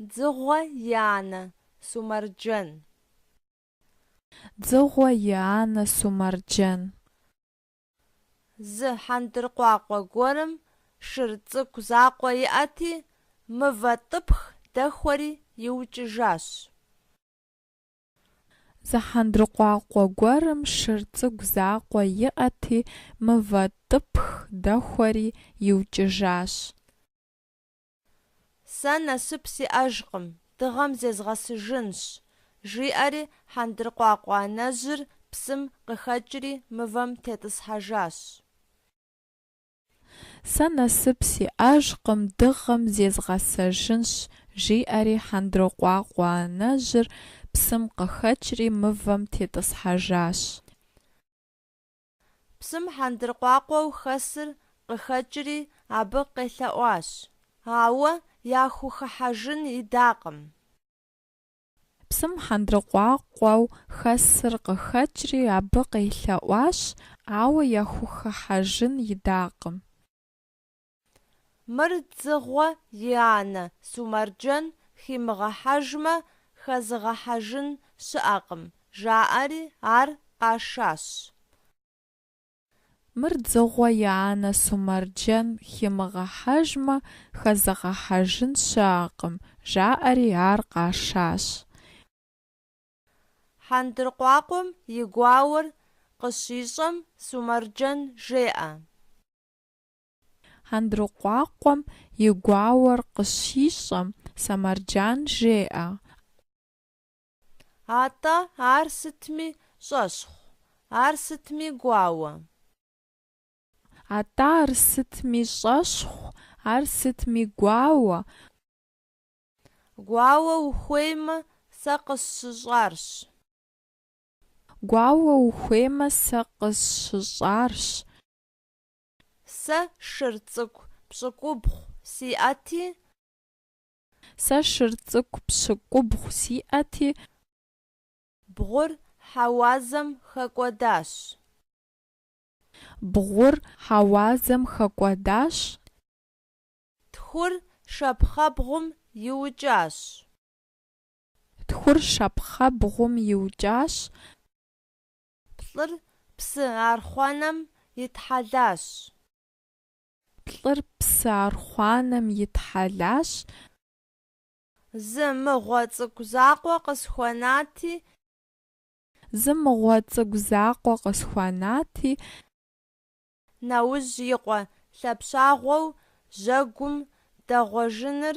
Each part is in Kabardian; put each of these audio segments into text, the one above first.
Дзыгъуэ и анэ Сумэрджэн. Дзыгъуэ и анэ Сумэрджэн. Зы хьэндыркъуакъуэ гуэрым шыр цӏыкӏу закъуэ иӏэти, мывэ тӏыпх дэхуэри иукӏыжащ. Зы хьэндыркъуакъуэ гуэрым шыр цӏыкӏу закъуэ иӏэти, мывэ тӏыпх дэхуэри иукӏыжащ. Сэ насып сиӏэжкъым, дыгъэм зезгъэсыжынщ, жиӏэри хьэндыркъуакъуэ анэжьыр псым къыхэкӏри мывэм тетӏысхьэжащ. Сэ насып сиӏэжкъым, дыгъэм зезгъэсыжынщ, жиӏэри хьэндыркъуакъуэ анэжьыр псым къыхэкӏри мывэм тетӏысхьэжащ. Псым хьэндыркъуакъуэу хэсыр къыхэкӏри, абы къелъэӏуащ. Ауэ яхухыхьэжын идакъым. Псым хьэндыркъуакъуэу хэсыр къыхэкӏри, абы къелъэӏуащ, ауэ яхухыхьэжын идакъым. Мыр дзыгъуэ и анэ Сумэрджэн химыгъэхьэжмэ, хэзыгъэхьэжын щыӏэкъым, жаӏэри ар къашащ. Мыр дзыгъуэ и анэ Сумэрджэн химыгъэхьэжмэ, хэзыгъэхьэжын щыӏэкъым, жаӏэри ар къашащ. Хьэндыркъуакъуэм и гуауэр къыщищӏэм Сумэрджэн жеӏэ. Хьэндыркъуакъуэм и гуауэр къыщищӏэм, Сумэрджэн жеӏэ. Атӏэ ар сытми щӏэщхъу, ар сытми гуауэ. Атӏэ ар сытми щӏэщхъу, ар сытми гуауэ. Гуауэ ухуеймэ, сэ къысщыщӏарщ. Гуауэ ухуеймэ, сэ къысщыщӏарщ. Сэ шыр цӏыкӏу пщыкӏубгъу сиӏэти. Сэ шыр цӏыкӏу пщыкӏубгъу сиӏэти. Бгъур хьэуазэм хэкӏуэдащ. Бгъур хьэуазэм хэкӏуэдащ. Тхур шапхъэбгъум иукӏащ. Тхур шапхъэбгъум иукӏащ. Плӏыр псы архъуанэм итхьэлащ. Плӏыр псы архъуанэм итхьэлащ. Зы мыгъуэ цӏыкӏу закъуэ къысхуэнати. Зы мыгъуэ цӏыкӏу закъуэ къысхуэнати. Нэужь и къуэ лъэпщагъуэу жьэгум дэгъуэжыныр.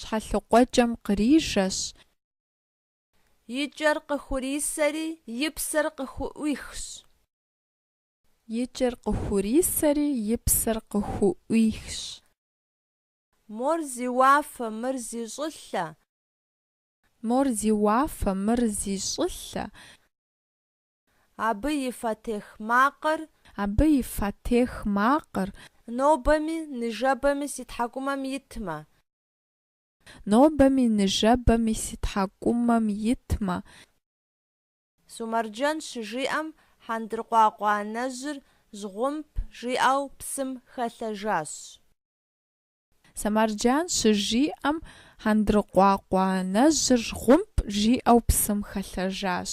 Щхьэлыкъуэкӏэм кърижэщ. И кӏэр къыхурисэри и псэр къыхуӏуихщ. И кӏэр къыхурисэри и псэр къыхуӏуихщ. Мор зи уафэ, мыр зи щӏылъэ. Мор зи уафэ, мыр зи щӏылъэ. Абы и фэтех макъыр. Абы и фэтех макъыр. Нобэми ныжэбэми си тхьэкӏумэм итмэ. Нобэми ныжэбэми си тхьэкӏумэм итмэ. Сумэрджэн щыжиӏэм хьэндыркъуакъуэ анэжьыр жьгъумп жиӏэу псым хэлъэжащ. Сумэрджэн щыжиӏэм хьэндыркъуакъуэ анэжьыр жьгъумп жиӏэу псым хэлъэжащ.